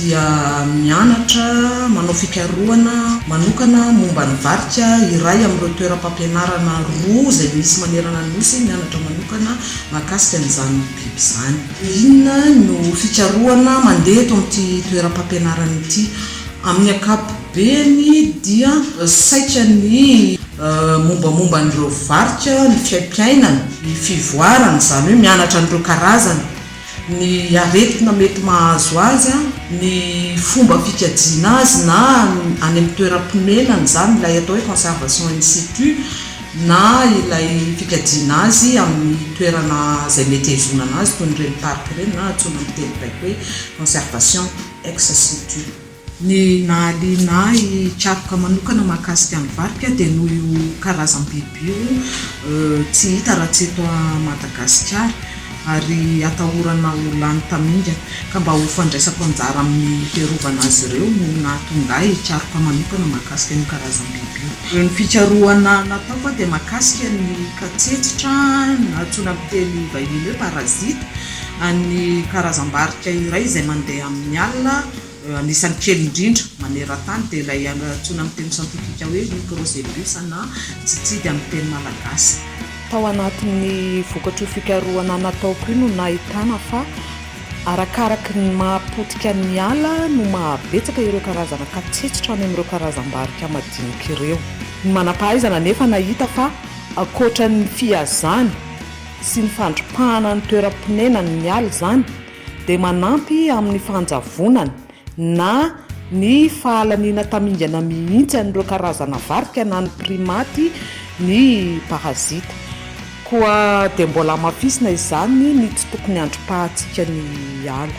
dia mianatra manao fikarohana manokana momba ny varika iray amin'ireo toeram-pampianarana roa izay misy manerana ny Nosy mianatra manokana mahakasika an'izany biby izany. Dia inona no fikarohana mandeha eto amin'ity toeram-pampianarana ity? Amin'ny ankapobeny dia saika ny mombamomba an'ireo varika, ny fiaimpiainany, ny fivoarany, izany hoe mianatra an'ireo karazany, ny aretina mety mahazo azy, ny fomba fikajiana azy na any amin'ny toeram-ponenany, izany ilay atao hoe conservation in situ na ilay fikajiana azy amin'ny toerana izay mety hihazonana azy toy ny reniparoka ireny na antsoina amin'ny teny baiko hoe conservation ex situ. Ny nahaliana ahy hikaroka manokana mahakasika ny varika dia noho io karazam-biby io tsy hita raha tsy eto Madagasikara ary atahorana ho lany tamingana ka mba ho fandraisako anjara amin'ny fiarovana azy ireo no nahatonga ahy hikaroka manokana mahakasika an'io karazam-biby io. Ny fikarohana nataoko aho dia mahakasika ny katsetsitra na antsoina amin'ny teny vahiny hoe parasite an'ny karazam-barika iray izay mandeha amin'ny alina Anisan'ny kely indrindra maneran-tany dia ilay antsoina amin'ny teny siantifika hoe Microcebus na Tsitsidy amin'ny teny malagasy. Tao anatin'ny vokatr'io fikarohana nataoko io no nahitana fa arakaraky ny maha potika ny ala no maha betsaka ireo karazana katsetsitra any amin'ireo karazam-barika madinika ireo. Ny manam-pahaizana anefa nahita fa ankoatra ny fihazany sy ny fandripahana ny toeram-ponenan'ny ala izany, dia manampy amin'ny fanjavonana na ny fahalaniana tamingana mihitsy an'ireo karazana varika na ny primaty ny parazita. Koa dia mbola hamafisina izany ny tsy tokony handrom-pahantsika ny ala.